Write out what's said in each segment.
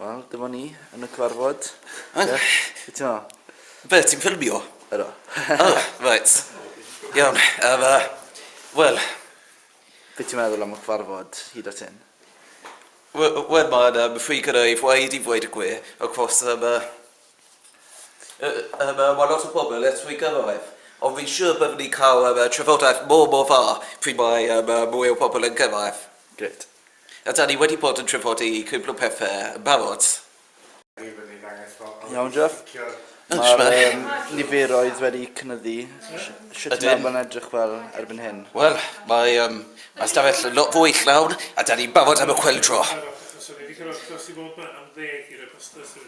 Wel, dyma ni yn y cyfarfod. Beth ti'n meddwl? Be, ti'n ffilmio? Ydw. Oh, right. Iawn, um, uh, wel... Beth ti'n meddwl am y cyfarfod hyd at hyn? Wel, mae'n um, ffug gyda i fwaed i fwaed y gwe, across um, uh, Mae lot o bobl yn trwy gyrraedd, ond fi'n siŵr byddwn ni'n cael trafodaeth mor, mor dda pryd mae mwy o bobl yn gyrraedd. Grêt. A dan ni wedi bod yn trafodi cwpl o pethe yn barod. Iawn, Jeff. Mae'r niferoedd wedi cynyddu. Sut mae hwnna'n edrych fel erbyn hyn? Wel, mae ystafell lot fwy llawn a dan ni'n barod am y chwyldro.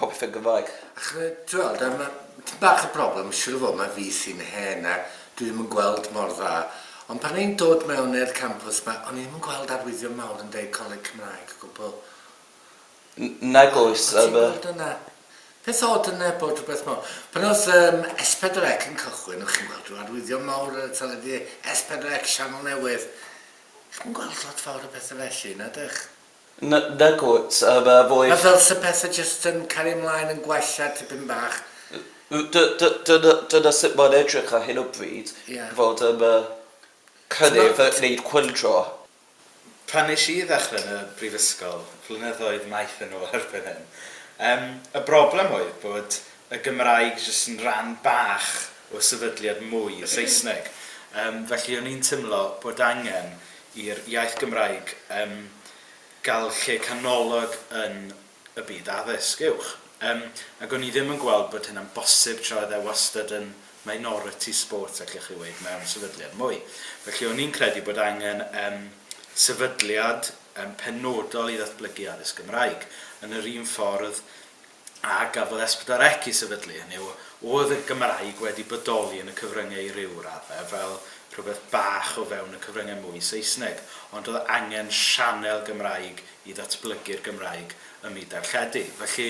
Popeth yn Gymraeg. Achos t'weld a ma' tipyn bach o broblem siŵr o fod ma' fi sy'n hen a dwi ddim yn gweld mor dda ond pan o'n i'n dod mewn i'r campws 'ma o'n i ddim yn gweld arwyddion mawr yn deud Coleg Cymraeg o gwbl. N- nag oes a ma'... O' ti'n gweld hwnna? Peth od yna bod rhywbeth mawr. Pan o'dd yym S4C yn cychwyn o' chi'n gweld rhyw arwyddion mawr ar y teledu, S4C sianel newydd. Chi'm yn gweld lot fawr o bethe felly, na 'dych? N- nagwt, a ma fwy... Ma fel se pethe jyst yn cario mlaen yn gwella tipyn bach. N- n- dy- dy- dyna dyna sut mae'n edrych ar hyn o bryd. Ie. Fod yn yy cynnydd T'mo' t- neud cwyldro. Pan nesh i ddechre yn y brifysgol, flynyddoedd maith yn ôl erbyn hyn, yym y broblem oedd bod y Gymraeg jyst yn ran bach o sefydliad mwy Saesneg. Yym felly o'n i'n timlo bod angen i'r iaith Gymraeg yym gael lle canolog yn y byd addysg uwch. Yym ac o'n i ddim yn gweld bod hynna'n bosib tra oedd e wastad yn minority sport allech chi weud mewn sefydliad mwy. Felly o'n i'n credu bod angen yym sefydliad yym penodol i ddatblygu addysg Gymraeg yn yr un ffordd a gafodd Esbdarec i sefydlu, hynny yw, oedd y Gymraeg wedi bodoli yn y cyfryngau i ryw raddau fel rhywbeth bach o fewn y cyfryngau mwy Saesneg, ond oedd angen sianel Gymraeg i ddatblygu'r Gymraeg ym myd darlledu. Felly,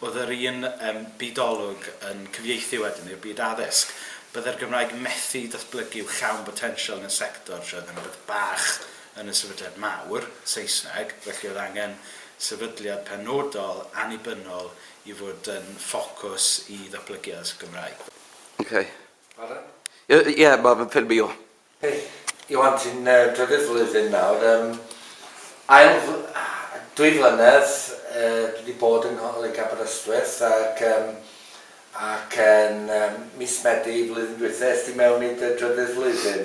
oedd yr un um, byd-olwg yn cyfieithu wedyn i'r byd addysg. Byddai'r Gymraeg methu datblygu i'w llawn botensial yn y sector, lle oedd yn rhywbeth bach yn y Sefydliad Mawr, Saesneg, felly oedd angen sefydliad penodol, annibynnol, i fod yn ffocws i ddatblygu addysg y Gymraeg. Ok. Pardon? Ie, yeah, mae fy ffilmio. Ie. Hey, Iwan, ti'n uh, drydydd flwyddyn nawr. Um, ail, dwy flynedd uh, dwi wedi bod yng Ngholeg Aberystwyth ac, um, ac yn um, mis Medi flwyddyn dwytha, esti mewn i dy drydydd flwyddyn.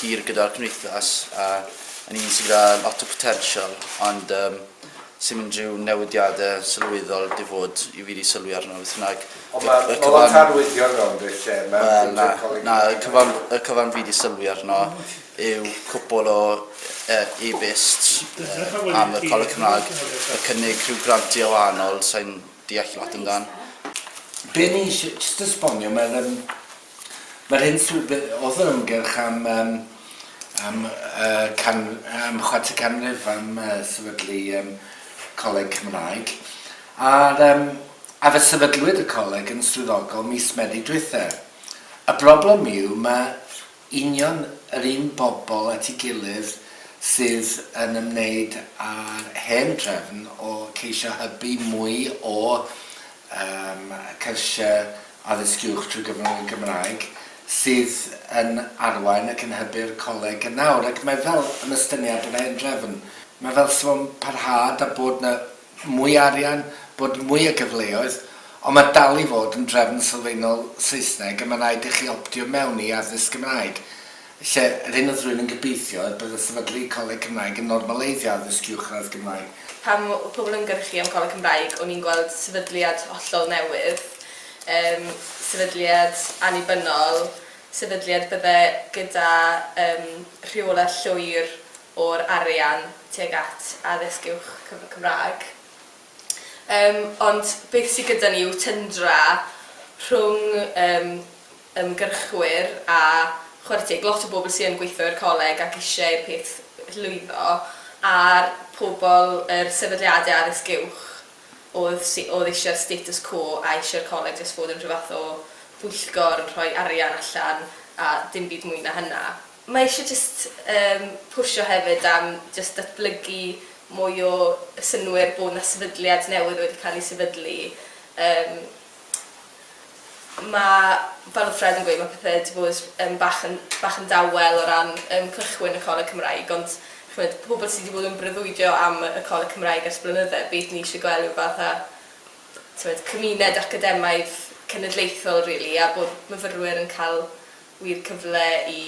hir gyda'r cymdeithas a yn un sydd gyda lot o potensial ond um, sy'n mynd rhyw newidiadau sylweddol di fod i fi di sylwi arno beth bynnag. Ond mae ma lot arwyddion mewn beth lle mae well, na, na, y cyfan, y cyfan fi di sylwi arno yw cwpl o uh, e-byst uh, am y Coleg Cymraeg y cynnig rhyw grantiau wahanol sy'n deall lot amdano. Benny, jyst esbonio, mae'r um, Mae'r hyn sydd oedd yr ymgyrch am um, am, uh, can, am chwarter canrif am uh, sefydlu um, coleg Cymraeg. A'r, um, a fe sefydlwyd y coleg yn swyddogol mis Medi dwytha. Y broblem yw mae union yr un bobl at ei gilydd sydd yn ymwneud â'r hen drefn o ceisio hybu mwy o ym cyrsiau Addysg Uwch trwy gyfrwng y Gymraeg, sydd yn arwain ac yn hybu'r coleg yn awr. Ac mae fel yn ystyniad yr hen drefn, mae fel sa fo'n parhad a bod 'na mwy o arian, bod mwy o gyfleoedd, ond mae dal i fod yn drefn sylfaenol Saesneg a mae'n rhaid i chi optio mewn i addysg Gymraeg. Felly, ar hyn o drwy ni'n gobeithio y bydd y sefydlu Coleg Cymraeg yn normaleiddio addysg uwchradd Gymraeg. Pan oedd pobl yn gynhyrchu am Coleg Cymraeg, o'n i'n gweld sefydliad hollol newydd, yym, sefydliad annibynnol, sefydliad bydde gyda, yym, rheolaeth llwyr o'r arian tuag at addysg uwch cyfrwng Cymraeg. Yym, ond beth sydd gyda ni yw tyndra rhwng, yym, ymgyrchwyr a chwaratig, lot o bobl sy yn gweithio i'r coleg ac isie i'r peth lwyddo, a'r pobl, yr sefydliadau addysg uwch oedd sy oedd isie'r status quo a isie'r coleg jyst fod yn rhyw fath o bwyllgor yn rhoi arian allan a dim byd mwy na hynna. Mae isie jyst yym pwsio hefyd am jyst datblygu mwy o synnwyr bod 'na sefydliad newydd wedi cael ei sefydlu yym ma' fel odd Fred yn gweud ma' pethe 'di bod yn bach yn bach yn dawel o ran yym cychwyn y Coleg Cymraeg ond ch'mod pobol sy 'di bod yn breuddwydio am y Coleg Cymraeg ers blynydde beth ni isie gwel' yw fath a t'mod cymuned academaidd cenedlaethol rili a bod myfyrwyr yn ca'l wir cyfle i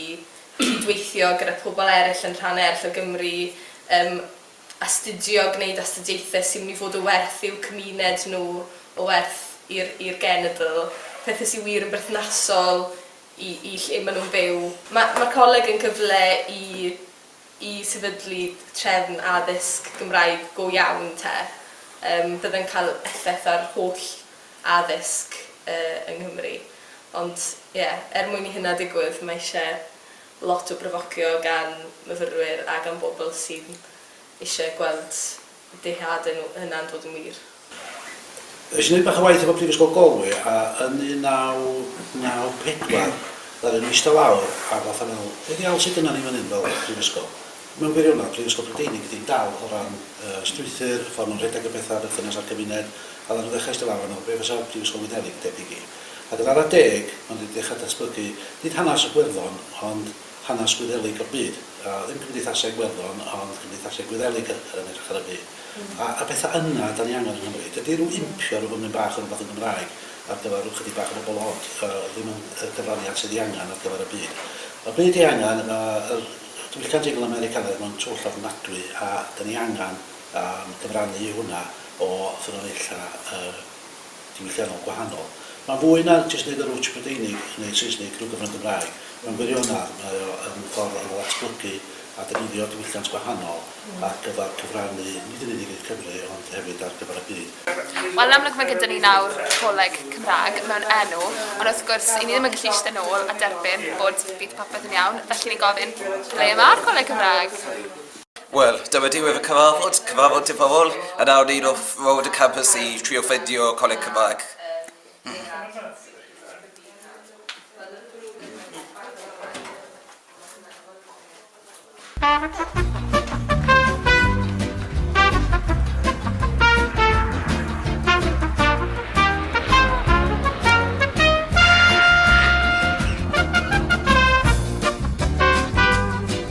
cydweithio gyda pobol eryll yn rhan eryll o Gymru yym astudio, gwneud astudiaethau sy'n mynd i fod o werth i'w cymuned nhw, o werth i'r i'r genedl, pethau sy wir yn berthnasol i i lle maen nhw'n byw. Ma' ma'r coleg yn cyfle i i sefydlu trefn addysg Gymraeg go iawn 'te. Yym fydde'n cael effaith ar holl addysg yy yng Nghymru. Ond ie, er mwyn i hynna digwydd, mae eisiau lot o bryfocio gan myfyrwyr a gan bobl sydd eisiau gweld eu dyheadau nhw hunain dod yn wir. Wnes i wneud bach o waith efo Prifysgol Galway a yn 1994 ddaru nhw eistedd lawr a fatha meddwl, be ddiawl sydd gynnon ni fan hyn fel prifysgol? Mewn gwirionedd, Prifysgol Brydeinig ydy hi'n dal o ran y strwythur, y ffordd maen nhw'n rhedeg y pethau, berthynas â'r cymuned, a ddaru nhw ddechrau eistedd lawr a meddwl, be fasa Prifysgol Wyddeleg yn debyg i? Ac yn ara deg, maen nhw wedi dechrau datblygu, nid hanes y Gwerddon, ond hanes Gwyddelig o'r byd. A ddim cymdeithaseg Werddon, ond cymdeithaseg Gwyddelig yr yn edrych ar y byd. A a pethau yna dan ni angen yng Nghymru. Dydy rhyw impio rhyw fymryn bach o rywbeth yn Gymraeg ar gyfer rhyw chydig bach o bobl od yy ddim yn y gyfraniad sydd ei angen ar gyfer y byd. Y byd ei angen, ma' yr diwylliant Eingl Americanaidd mewn twll ofnadwy a dan ni angen yym cyfrannu i hwnna o ffynonella y diwylliannol gwahanol. Mae'n fwy na jyst neud yr wtsh Brydeinig yn neud Saesnig drwy gyfrwng Gymraeg. Mewn gwirionedd, mae o yn ffordd o ddatblygu a defnyddio diwylliant gwahanol ar gyfer cyfrannu nid yn unig i'r Cymry ond hefyd ar gyfer y byd. Wel, yn amlwg mae gyda ni nawr coleg Cymraeg mewn enw, ond wrth gwrs, 'yn ni ddim yn gallu eistedd nôl a derbyn bod bydd popeth yn iawn, felly ni'n gofyn, ble mae'r coleg Cymraeg? Wel, dyma diwedd y cyfarfod, cyfarfod diddorol, yn awr ni wrth rownd y campus i trio ffeindio coleg Cymraeg.